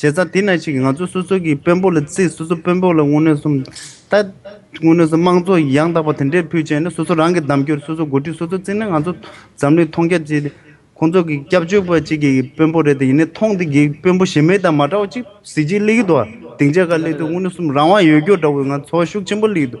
བྱས་ཙང་དེ་ན་ཞིག་ང་ཚོ་སོ་སོ་གི་དཔོན་པོ་ལ་བརྩི་སོ་སོ་དཔོན་པོ་ལ་དངོས་གནས་སུམ་རྟགས། དངོས་གནས་སུ་དམངས་གཙོ་ཡང་དག་པ་དེ་འདྲའི་ཕུལ་བྱས་ན་སོ་སོ་རང་གི་གདམ་སྐྱོར་སོ་སོ་འགོ་ཁྲིད་སོ་སོ་བརྩི་ན་ང་ཚོ་འཛམ་གླིང་མཐོང་རྒྱ་ཆེ། ཁོང་ཚོ་གི་སྐྱབས་བཅོལ་བ་གཅིག་གི་དཔོན་པོ་རེད་དེ་ཡིན་ནས་མཐོང་དེ་གི་དཔོན་པོ་གཞན་མེད་དང་མ་འདྲ་བ་གཅིག་གཟི་བརྗིད་གླེགས་ཡོད་དོ། སྡིངས་ཆ་འགའ་གླེགས་དུས་དངོས་གནས་སུམ་རང་དབང་ཡོད་སྐྱོར་འདྲ་བོ་ང་ཚོ་ཤུགས་ཆེན་པོ་གླེགས་ཡོད་དོ།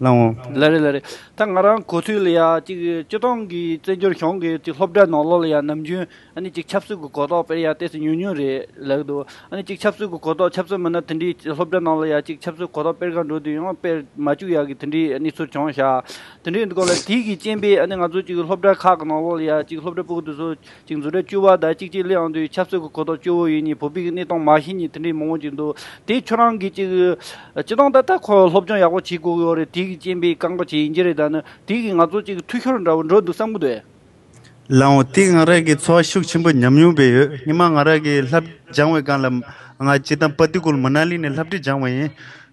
བླང་ངོ། ལ་རེ་ལ་རེ། ད་ང་རང་གོ་ཐོས་ལ་ཡང་ཅིག་སྤྱི་བཏང་གི་བཙན་བྱོལ་གཞུང་གི་ཅིག་སློབ་གྲྭའི་ནང་ལོག་ལ་ཡང་ནམ་རྒྱུན་ཨ་ནི་ཅིག་ཆབ་སྲིད་གི་གོ་རྟོགས་དཔེར་ཡང་བལྟས་ཚེ་ཉུང་ཉུང་རེད་ལགས་འདུག་ཨ་ནི་ཅིག་ཆབ་སྲིད་གི་གོ་རྟོགས་ཆབ་སྲིད་མིན་ན་དེ་འདྲའི་སློབ་གྲྭའི་ནང་ལ་ཡང་ཅིག་ཆབ་སྲིད་གོ་རྟོགས་དཔེར་གང་འགྲོ་དུས་ཡང་དཔེར་མ་བཅུག་ཡག་གི་དེ་འདྲའི་ཨ་ནི་ཚུར་བྱུང་ཤག་དེ་འདྲའི་སྐོར་ལ་དུས་ཀྱི་རྐྱེན་པས་ཨ་ནི་ང་ཚོ་ཅིག་སློབ་གྲྭ་ཁག་གི་ནང་ལོག་ལ་ཡང་ཅིག་སློབ་གྲྭ་པུག་ཏུ་སོ་གཅིག་འཛུལ་སྒྲ་བཅུ་བ་དང་གཅིག་གཅིག་ལེའང་དུས་ཆབ་སྲོལ་གྱི་གོ་རྟོགས་བཅུ་བོ་ཡིན་གཉིས་བོད་པའི་གནས་སྟངས་མ་ཤེས་གཉིས་དེ་འདྲའི་མང་བོ་ཅིག་འདུག་དེ་ཁྱོད་རང་གིས་ཅིག་སྤྱི་སྟངས་ད་ལྟ་ཁོ་སློབ་སྦྱོང་ཡག་པོ་བྱེད་དགོས་ཡོད་རེད་དེ་གི་རྐྱེན་པས་བཀག་འགོག་བྱེད་ཡིན་གྱི་རེད་ད་ནི་དེ་གིས་ང་ཚོ་ཅིག་འཐུས་ཤོར་འདྲ་བོ་འགྲོ་འདུག་བསམ་གི་འདུག་ཨེ། ལའང་དེས་ང་རང་གི་འཚོ་བ་ཤུགས་ཆེན་པོ་ཉམས་མྱོང་བས་ཡོད་ཉི་མ་ང་རང་གིས་ལྷ་སྦྱང་བའི་སྒང་ལ་ང་སྤྱི་སྟངས་པ་དུས་ཀུན་མུ་ན་ལི་ནས་ལྷ་བྲིས་སྦྱང་བ་ཡིན།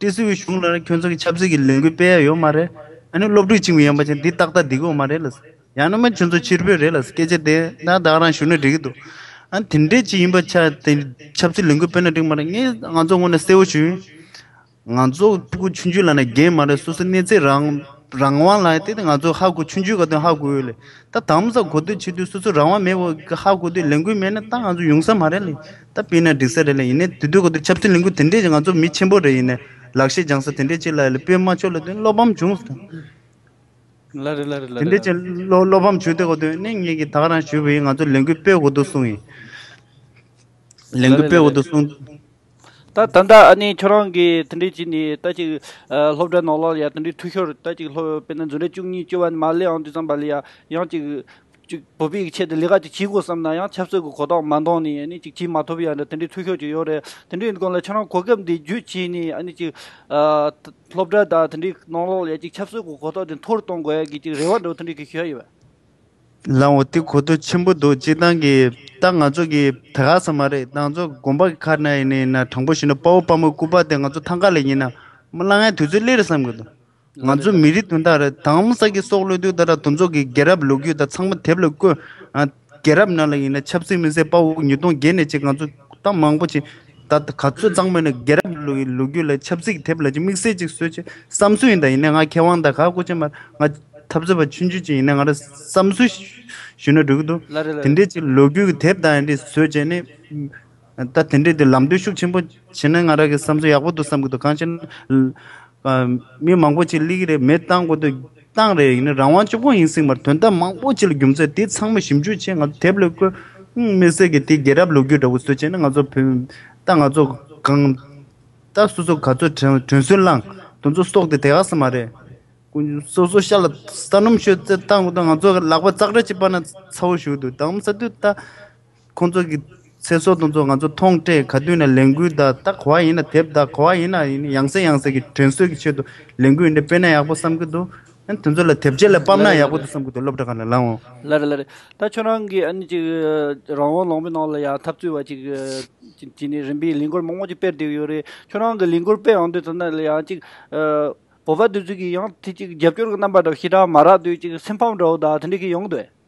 ཏི་སི་བའི་གཞུང་ལ་ཁྱོད་ཚོ་གི་ཆབ་སྲིད་ཀྱི་ལས་འགུལ་སྤེལ་ཡ་ཡོད་མ་རེད། ཨ་ནི་སློབ་ཕྲུག་གཅིག་མི་ཡོང་པ་ཅན་འདི་ཏག་ཏག་སྡིག་གོ་མ་རེད་ལ། ཡང་ན་མ་ཁྱོད་ཚོ་ཕྱིར་བོད་རེད་ལ་སྐད་ཆ་དེ་འདྲ་བདག་རང་ཞུ་ན་འགྲིག་གི་འདུག་ཨ་ནི་དེ་འདྲའི་ཅིག་ཡིན་པ་ཆ་དེ་ཆབ་སྲིད་ལས་འགུལ་སྤེལ་ན་འགྲིག་མ་རེད་ངས་ང་ཚོ་ངོ་ནས་གསལ་བོ་ཞུ། ང་ཚོ་ཧ་གོ་ཆུང་ཆུང་ལ་ན་རྒན་མ་རེད་སོ་སོའི་གནས་ཚད་རང་རང་དབང་ལ་དེ་ང་ཚོ་ཧ་གོ་ཆུང་ཆུང་ག་དུས་ཧ་གོ་ཡོད་ལ་ད་དམ་ས་གོ་དུས་ཕྱི་དུས་སོ་སོའི་རང་དབང་མེད་བ་ཧ་གོ་དུས་ལས་འགུལ་མེད་ན་ད་ང་ཚོ་ཡོང་ས་མ་རེད་ལ། ད་སྤེན་ན་འགྲིག་ས་རེད་ལ་ཡིན་ནའི་དུས་དུས་ག་དུས་ཆབ་སྲིད་ལས་འགུལ་དེ་འདྲས་ཀྱི་ང་ཚོ་མི་ཆེན་པོ་རེད་ཡིན་ནའི་ལག་ཤེས་སྦྱང་ས་དེ་འདྲས་ཅིག་ལ་ཡོད་ལ་སྤེན་མ་ཆོས་ལ་དོན་བློ་ཕམ་བྱུང་ཟེར་ན། ལ་རེད་ལ་རེད་ལ་དེ་རེད་འདྲས་ལ་ཅིག་རེད། བློ་བློ་ཕམ་བྱུང་དེ་ག་དུས་ནས་ངེད་ཀྱིས་ད་ག་རང་ཞུས་པ་ཡིན་ང་ཚོ་ལས་འགུལ་སྤེལ་དགོས་འདུག་གསུངས་ཡིན། ལས་ལ་འགུལ་རེད་ལ་སྤེལ་དགོས་རེད། འདུག་གསུངས། ད་ད་ལྟ་ཨ་ནི་ཁྱོད་རང་གིས་དེ་འདྲས་བྱས་ནས་ད་ཅིག་སློབ་གྲྭ་ནང་ལ་ཡ་དེ་འདྲས་འཐུས་ཤོར་ད་ཅིག་སློབ་སྤེན་ན་འཛུ་རེ་བཅུ་གཉིས་བཅུ་བ་ནི་མ་ལེ་ཨང་དུས་ཙམ་པ་ལ་ཡ་ཡང་ཅིག་གཅིག་བོད་པའི་ཆེད་དུ་ལས་ཀ་ཅིག་བྱེད་དགོས་བསམ་ན་ཡང་ཆབ་སྲིད་ཀྱི་གོ་རྟོགས་མ་འདང་ནས་ཅིག་བྱེད་མ་ཐུབ་པའི་ཡང་འདྲ་དེ་འདྲའི་འཐུས་ཤོར་ཅིག་ཡོད་རེད། དེ་འདྲའི་སྐོར་ལ་ཁྱེད་རང་གོ་སྐབས་འདི་བརྒྱུད་བྱས་ནས་ཅིག་སློབ་གྲྭ་དང་དེ་འདྲའི་ནང་ལོགས་ལ་ཅིག་ཆབ་སྲིད་ཀྱི་གོ་རྟོགས་དེ་མཐོ་རུ་གཏོང་དགོས་ཡག་གི་ཅིག་རེ་བ་འདྲ་བོ་དེ་འདྲ་གི་ཞུ་ཡག་ཡོད་པ། ལགས་འོ་དེ་གོ་ཐོས་ཆེན་པོ་འདུག་ཅིག་ཏང་གི་ཏང་ང་ཚོ་གི་བད་ག་ས་མ་རེད་ཏང་ཚོ་དགོན་པ་གི་ཁར་ན་ཡིན་ན་ཡིན་ན་དྲང་པོ་བཞིན་དུ་དཔའ་བོ་དཔའ་མོ་སྐུ་པར་དེ་ང་ཚོ་ཐང་ཀ་ལ་ཡིན་ན་མ་གླ་ངའི་དུས་ཚོད་སླེ་རེད་བསམ་གི་འདུག། ང་ཚོའི་མི་རིགས་དོན་དག་རེད་དམ། ས་དགེ་སོགས་བློས་ཐུལ་ད་ར་དུ་འཛོགས་ཀྱིས་རྒྱལ་རབས་ལོ་རྒྱུས་དག་ཚང་མ་དེབ་ལ་བཀོད། རྒྱལ་རབས་ནང་ལ་ཡིན་ན་ཆབ་སྲིད་མི་སེར་དཔའ་བོ་ཉིས་སྟོང་བརྒྱད་ནས་ཕྱིན་ང་ཚོས་གཏམ་མང་པོ་བྱས། ད་ག་ཚོད་གཙང་མ་ཡིན་ན་རྒྱལ་རབས་ལོ་རྒྱུས་ལ་ཆབ་སྲིད་ཀྱི་དེབ་ལ་ཅིག་དམིགས་བསལ་ཅིག་བཟོས་ཆེད་བསམ་ཚུལ་ཡིན་ད་ཡིན་ན་ང་མཁས་དབང་དང་ག་སྐུ་ཆེན་མར་ང་འཐབ་རྩོད་པ་ཆུང་ཆུང་ཅིག་ཡིན་ན་ང་ར་བསམ་ཚུལ་ཞུས་ན་འགྲིག་གི་འདུག་དེ་འདྲའི་ཅིག་ལོ་རྒྱུས་ཀྱི་དེབ་དག་ཡིན་དེ་བཟོས་བྱས་ནས། ད་དེ་འདྲས་དེ་ལམ་སྟོན་ཤུགས་ཆེན་པོ་བྱེད་ན་ང་རང་གིས་བསམ་ཚུལ་ཡག་པོ་འདུག་བསམ་གྱི་འདུག་གང་ཅི་ན། མི་མང་པོ་ཅིག་གླིག་གི་རེད་མེད་བཏང་དགོས་འདོད་བཏང་རེད་ཡིན་ན་རང་དབང་ཅུང་ཡིན་སྲིད་མར་དོན་དག་མང་པོ་ཅིག་ལ་རྒྱུ་མཚན་དེ་ཚང་མ་ཞིབ་འཇུག་བྱས་ང་ཚོ་དེབ་ལས་བཀོད། མི་སེར་གྱི་དེ་རྒྱལ་རབས་ལོ་རྒྱུས་འདྲ་བོ་བཟོས་བྱས་ན་ང་ཚོ་བོད་ད་ང་ཚོ་གང། ད་སོ་སོ་ག་ཚོད་དྲན་དྲན་སོན་བླངས་དོན་ཚོ་སོགས་དེ་དེ་ག་ས་མ་རེད། སོ་སོ་ཤ་ལ་ས་སྣུམ་ཤོད་ཚད་བཏང་དགོས་འདོད་ང་ཚོ་ལག་པ་ཙག་སྒྲ་ཅིག་སྤར་ན་ཚ་བོ་ཞུགས་འདུག་དྭངས་མ་ས་དུས་ད། ཁོང་ཚོ་གི་ཚེ་སྲོག་དང་ཚོ་ང་ཚོ་མཐོང་སྤྲད་ག་དུས་ནས་ལས་འགུལ་བདའ་བདའ་གོ་བ་ཡིན་ན་དེབ་བདའ་གོ་བ་ཡིན་ན་ཡིན་ཡང་ཟེར་ཡང་ཟེར་གི་དྲན་གསོས་ཀྱི་ཆེད་དུ་ལས་འགུལ་འདི་སྤེལ་ན་ཡག་པོ་བསམ་གི་འདུག་ཨ་ནི་དེ་ཚོ་ལ་དེབ་ཆས་ལ་སྤམ་ན་ཡག་པོ་འདུག་བསམ་གི་འདུག་སློབ་གྲྭ་ག་ལ་ལང་འོང། ལར་ལར་རེད་ད་ཁྱོད་རང་གིས་ཨ་ནི་ཅིག་རང་དབང་ལོངས་པའི་ནང་ལ་ཡང་འཐབ་རྩོད་བ་ཅིག་གི་ནི་རིམ་པས་ལས་འགུལ་མང་པོ་ཅིག་སྤེལ་བསྡད་ཡོད་རེད་ཁྱོད་རང་གི་ལས་འགུལ་སྤེལ་འོང་དུས་ཚོད་ན་ཡང་ཅིག་བོད་པ་དུས་ཚོད་ཀྱི་ཡང་དེ་ཅིག་རྒྱབ་སྐྱོར་གི་རྣམ་པ་འདྲ་བོ་ཞེ་དྲག་མ་རག་དུས་ཅིག་སེམས་ཕམ་འདྲ་བོ་དང་དེ་འདྲ་གི་ཡོང་དུས།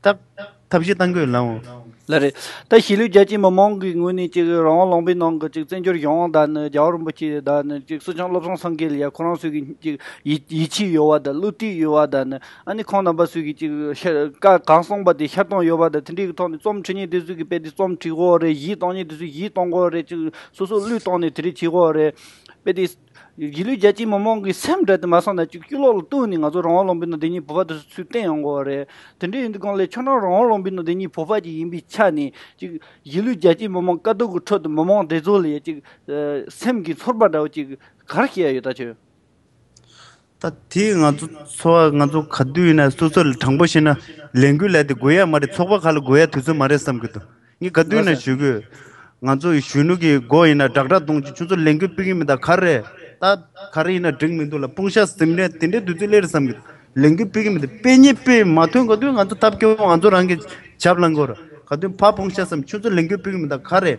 སྟབས། ཐབས་བཞི་གཏང་དགོས་ལ་འོ། ལ་རེད། ད་གཞིས་ལུས་རྒྱ་ཆེ་མི་མང་གི་ངོས་ནས་ཅིག་རང་དབང་ལུང་པའི་ནང་གི་ཅིག་བཙན་བྱོལ་གཞུང་དབང་དག་ནི་རྒྱ་བ་རིན་པོ་ཆེ་དག་ནི་ཅིག་སུ་ཆང་བློ་བཟང་སངས་རྒྱས་ལ་ཡ་ཁོ་རང་སུ་གི་ཅིག་ཡིད་ཆེས་ཡོད་བ་དང་བསླུ་བྲིད་ཡོད་བ་དག་ནི་ཨ་ནི་ཁོང་རྣམ་པ་སུ་གི་ཅིག་ཤ་ཀ་གང་གསུངས་པ་དེ་ཤར་གཏོང་ཡོད་བ་དང་དེ་འདྲའི་གི་ཐོག་ནས་རྩོམ་འཁྲི་ཉེན་དེ་སུ་གི་དཔེ་དེ་རྩོམ་འཁྲི་དགོས་རེད་གཞིས་གཏང་ཉེན་དེ་སུ་གཞིས་གཏང་དགོས་རེད་ཅིག་སོ་སོ་བསླུས་གཏོང་ནས་དེ་རིགས་བྱེད་དགོས་རེད་དཔེ་དེ། གཞིས་ལུས་རྒྱལ་སྤྱིའི་མི་མང་གིས་སེམས་ཁྲལ་དུ་མ་སོང་ན་བཅུག་དཀྱིལ་ལོག་ལ་ལྟོས་ནས་ང་ཚོ་རང་དབང་ལུང་པའི་ནང་དེ་ཉིད་བོད་པ་དུ་ཚུད་བསྟན་ཡོང་དགོས་པ་རེད། དེ་འདྲ་ཡིན་དུས་གང་ལེགས་ཆོག་ནའང་རང་དབང་ལུང་པའི་ནང་དེ་ཉིད་བོད་པ་ཅིག་ཡིན་པའི་ཆ་ནས་ཅིག། གཞིས་ལུས་རྒྱལ་སྤྱིའི་མི་མང་དཀའ་སྡུག་གི་ཁྲོད་དུ་མི་མང་དེ་ཚོ་ལས་ཅིག། སེམས་ཀྱི་ཚོར་བ་འདྲ་བོ་ཅིག་གར་སྐྱེས་ཡོད་ད་ཆོས། ད་དེས་ང་ཚོ་འཚོ་བ་ང་ཚོ་ག་དུས་ཡིན་ན་སོ་སོ་ལ་དྲང་པོ་བཤད་ན་ལས་འགུལ་ལས་དེ་དགོས་ཡ་མ་རེད་ཚོགས་པ་ཁག་ལ་དགོས་ཡ་དུས་ཚོད་མ་རེད་བསམ་གྱི་འདུག་ངས་ག་དུས་ཡིན་ན་ཞུ་གི་ཡོད། ང་ཚོ་ཡི་གཞོན་ནུ་གི་མགོ་ཡིན་ན་སྦྲག་སྦྲག་གཏོང་ཅིག་ཁྱོད་ཚོ་ལས་འགུལ་སྤེལ་གི་མི་དག་ག་རེད་ད་ག་རེ་ཡིན་ན་འགྲིག་མི་འདུག་ལ་དཔུང་ཤ་ཟིམ་རན་དེ་འདྲའི་དུས་ཚོད་སླེབས་རེད་བསམ་གྱི་འདུག་ལས་འགུལ་སྤེལ་གི་མི་དེ་སྤེལ་ཉེས་སྤེལ་མ་ཐོན་ག་དུས་ང་ཚོ་ཐབས་སྐྱོ་བོ་ང་ཚོ་རང་གི་ཇབ་ལངས་དགོས་རེད་ག་དུས་ཕ་དཔུང་ཤ་ཟིམ་ཁྱོད་ཚོ་ལས་འགུལ་སྤེལ་གི་མི་དག་ག་རེད།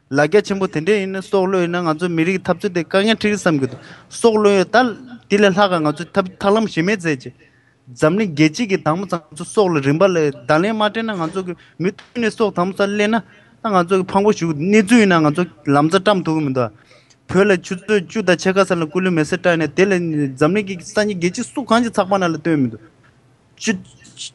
ལ་རྒྱ་ཆེན་པོ་དེ་འདྲས་ཡིན་ན་སྲོག་བློ་ཡོད་ན་ང་ཚོའི་མི་རིགས་འཐབ་རྩོད་དེ་དཀའ་ངལ་ཁྲིག་གི་བསམ་གི་འདུག་སྲོག་བློ་ཡོད་ད། དེ་ལས་ལྷག་ག་ང་ཚོའི་ཐབས་ཐག་ལམ་ཞེ་མེད་བཙལ་གྱི། འཛམ་གླིང་རྒྱལ་སྤྱི་གི་དྭངས་མོ་ཚང་ཚོ་སྲོག་ལ་རིན་པ་ལས་གདང་ལེན་མ་སྤྲད་ན་ང་ཚོ་གི་མུ་མཐུད་ནས་སྲོག་དྭངས་མོ་སར་སླེབས་ན་ད་ང་ཚོ་གི་ཕངས་པོ་ཞུགས་གནས་ཚུལ་ཡིན་ན་ང་ཚོ་ལམ་རྩ་བཀྲམ་ཐུབ་གི་མི་འདུག་བོད་ལ་ཆུ་ཚོད་བཅུ་དང་ཕྱེད་ཀ་ཟེར་ལ་སྐུ་ལུས་མེ་སྲེག་སྤྲད་ནས་དེ་ལས་འཛམ་གླིང་གི་སང་ཉིན་རྒྱལ་སྤྱི་སུ་གང་གི་ཚགས་པར་ན་ལ་བཏོན་མི་འདུག།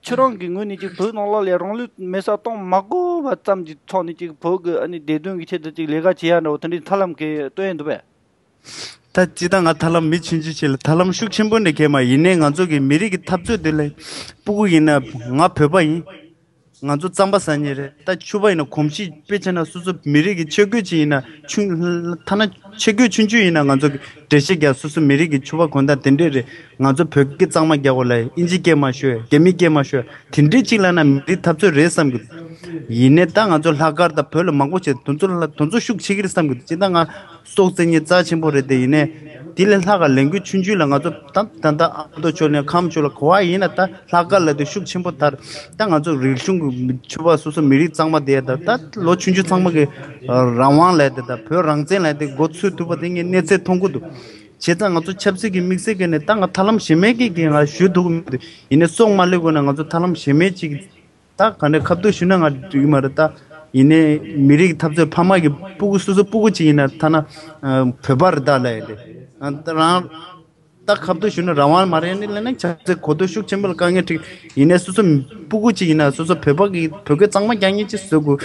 ཁྱེད་རང་གི་ངོས་ནས་ཅིག་བོད་ནང་ལ་ལས་རང་ལུས་མེ་སྲ་གཏོང་མ་དགོས་པ་ཙམ་གྱི་ཐོག་ནས་ཅིག་བོད་ཀྱི་ཨ་ནི་བདེ་དོན་གྱི་ཆེད་དུ་ཅིག་ལས་ཀ་བྱེད་ཡ་འདྲ་བོ་དེ་འདྲའི་ཐར་ལམ་གས་སྟོན་ཡས་འདུག་པས། ད་ཅི་ད་ང་ཐར་ལམ་མི་ཕྱིན་ཅི་བྱེད་ལ་ཐར་ལམ་ཤུགས་ཆེན་པོ་ནས་གས་མ་ཡིན་ནའི་ང་ཚོ་གི་མི་རིགས་ཀྱི་འཐབ་རྩོད་དེ་ལས་སྤུ་གུ་ཡིན་ན་ང་བོད་པ་ཡིན། ང་ཚོ་རྩམ་པ་ཟ་ཉེ་རེད་ད་ཆུ་པ་ཡིན་ན་གོམ་གཤིས་དཔེ་ཆེ་ན་སོ་སོ་མི་རིགས་ཀྱི་ཆས་གོས་ཅི་ཡིན་ན་ཆུ་ལྷ་ཐ་ན་ཆས་གོས་ཆུན་ཆུན་ཡིན་ན་ང་ཚོ་གི་འདྲེ་ཤེས་རྒྱ་སོ་སོ་མི་རིགས་ཀྱི་ཆུ་པ་གོན་ད་དེ་འདྲས་རེད་ང་ཚོ་བོད་སྐད་གཙང་མ་རྒྱག་དགོས་ལ་ཨིན་ཇི་སྐད་མ་ཤོད་རྒྱ་མི་སྐད་མ་ཤོད་དེ་འདྲའི་ཅིག་ལ་ན་མི་རིགས་འཐབ་རྩོད་རེད་བསམ་གི་འདུག་ཡིན་ནའི་ད་ང་ཚོ་ལྷག་དཀར་དང་བོད་ལ་མང་པོ་བྱས་ཏེ་དོན་ཚོགས་ཤུགས་ཆེ་གི་རེད་བསམ་གི་འདུག་སྤྱིར་ད་ང་སྲོག་རྩེ་ཉེ་རྩ་ཆེན་པོ་རེད་དེ་ཡིན་ནའི་དེ་ལས་ལྷག་ག་ལས་འགུལ་ཆུང་ཆུང་ལ་ང་ཚོ་ད་ད་ད་ཨ་མདོ་ཕྱོགས་ལས་ཁམས་ཕྱོགས་ལ་གོ་བ་ཡིན་ན་ད་ལྷག་དཀར་ལ་དེ་ཤུགས་ཆེན་པོ་དར་ད་ང་ཚོ་རིག་གཞུང་གི་ཆོས་པ་སོ་སོ་མི་རིགས་གཙང་མ་དེ་ད་ད་ལོ་ཆུང་ཆུང་ཚང་མ་གི་རང་དབང་ལས་དེ་ད་བོད་རང་བཙན་ལས་དེ་མགོ་ཚོས་ཐུབ་པ་དེ་ངས་གནས་ཚད་མཐོང་གི་འདུག་བྱས་ཙང་ང་ཚོ་ཆབ་སྲིད་ཀྱི་དམིགས་བསལ་གྱི་ནས་ད་ང་ཐར་ལམ་གཞན་མེད་ཀྱི་ང་ཞུས་འདུག་མི་འདུག་ཡིན་ནས་སྲོག་མ་ལེགས་དགོས་ན་ང་ཚོ་ཐར་ལམ་གཞན་མེད་ཅིག་ད་ག་འདྲ་ཁ་བསྡུར་ཞུས་ན་ང་འགྲིག་གི་མ་རེད་ད། ཡིན་ནས་མི་རིགས་འཐབ་རྩོད་ཕ་མ་གི་སྤུ་གུ་སོ་སོ་སྤུ་གུ་ཅིག་ཡིན་ན་ཐ་ན་བོད་པ་རེད་ད་ལས་ཡིན་ཏེ་རང། ད་ཁ་བསྡུར་ཞུས་ན་རང་དབང་མ་རེད་ཡིན་ནས་ལས་ན་ཆབ་སྲིད་གོ་ཐོས་ཤུགས་ཆེན་པོ་ལ་དཀའ་ངལ་འཁྲིགས་ཡིན་ནས་སོ་སོ་སྤུ་གུ་ཅིག་ཡིན་ན་སོ་སོ་བོད་པ་གི་བོད་སྐད་གཙང་མ་རྒྱག་ཉེན་ཅིག་བཟོས་དགོས།